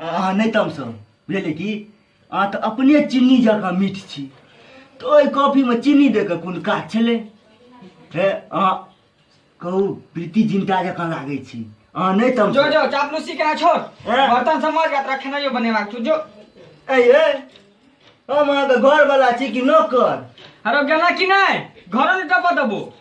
अहाँ नहि तमसँ बुझलियै की अहाँ तऽ अपने चीनी जकाँ मीठ छी तऽ ओहि कॉफीमे चीनी दे कऽ कोन काज छलै हे अहाँ कहू प्रीति जिनटा जकाँ लागै छी अहाँ नहि तम जो जो चापलूसी केना छोड़ हैं? बर्तन समझ गया तोरा खेनाइयो बनेबाक छौ जो अये हम अहाँके घरवला छी कि नौकर अरे गेला कि नहि घरो नहि टपऽ देबो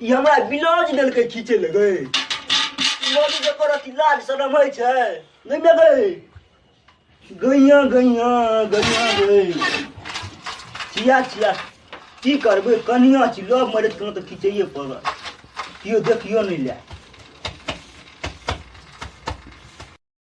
ई हमरा ब्लाउज देलकै खींचे ले गए ब्लाउज के करत ई लाज शरम होइ छै नहीं ना गए गैया गैया गैया गए चिया चिया की करबै कनिया छी लव मैरिज केलहुँ तऽ खिचैए पड़त केओ देखियो नहि लए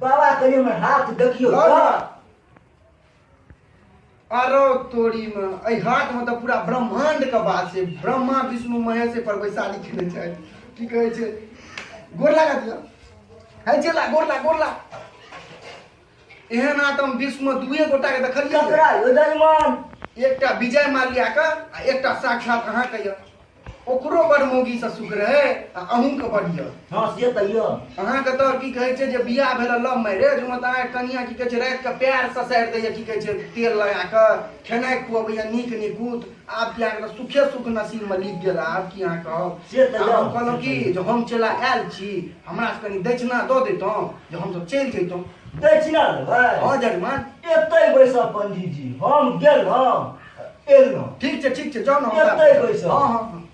बाबा करी हमर हाथ देखियो लऽ जा। अरौ तोरी मे एहि हाथ मे तऽ पूरा ब्रह्मांड के बात छै ब्रह्मा विष्णु महेश एहि पर वैशाली खेने छै की कहै छै गोर लगा दिया है चला गोर ला गोर ला एहन हाथ हम विश्व मे दुए गोटा के देखलियै ककरा यो जजमान एकटा विजय माल्या के आ एकटा साक्षात अहाँ के यऽ ओकरो बड़ मोगी से सुख रहे आ अहूँ के बढ़िया हाँ से तो ये अहाँ के तो की कहे छै जे बियाह भेल लव मैरिज में तो अहाँ कनिया की कहे छै रात के पैर से साइड दैया की कहे छै तेल लगा के खेनाई खुअबैया नीक निकूत आब की अहाँ के सुखे सुख नसीब में लिख गेल आब की अहाँ कहब से तऽ आब हम यऽ। कहलहुँ कि जे हम चला आयल छी हमरा से कनि दक्षिणा दऽ देतहुँ जे हम सब चलि जैतहुँ दक्षिणा लेबै हँ जजमान एतै बैसब पंडीजी हम गेलहुँ एक नौ ठीक छै ठीक छै जाउ ने हमरा एतै बैसब। हँ हँ हँ।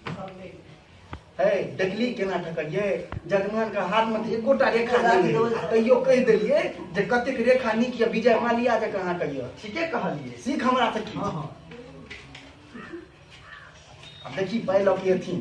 हे देखली केना ठकैये जजमान के हाथ में तऽ एकोटा रेखा नहि रहै। आ तैयो कहि देलियै जे कतेक रेखा नीक यऽ विजय मालिया जकाँ अहाँ कहियौ ठीके कहलियै सीख हमरा से की हँ हँ आ देखी पाइ लऽ के एथिन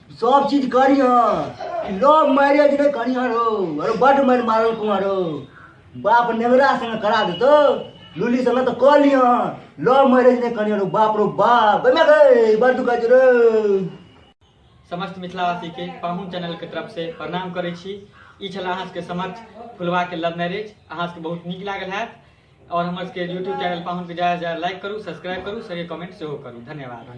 सब चीज करी हाँ लव मैरिज नहीं करी हाँ रो अरे बड मन मारल कुमार रो बाप नेवरा संग करा देतो लूली संग तो कह लिया लव मैरिज नहीं करी रो बाप रो बाप मैं गए बड़ दुखा रो समस्त मिथिलावासी के पाहुन चैनल के तरफ से प्रणाम करे छी ई छल अहाँ सबके समक्ष फुलवा के लव मैरिज अहाँ सबके बहुत नीक लागल हैत और हमर सबके यूट्यूब चैनल पाहुन के जाय जाय लाइक करू सब्सक्राइब करू सर कमेंट सेहो करू धन्यवाद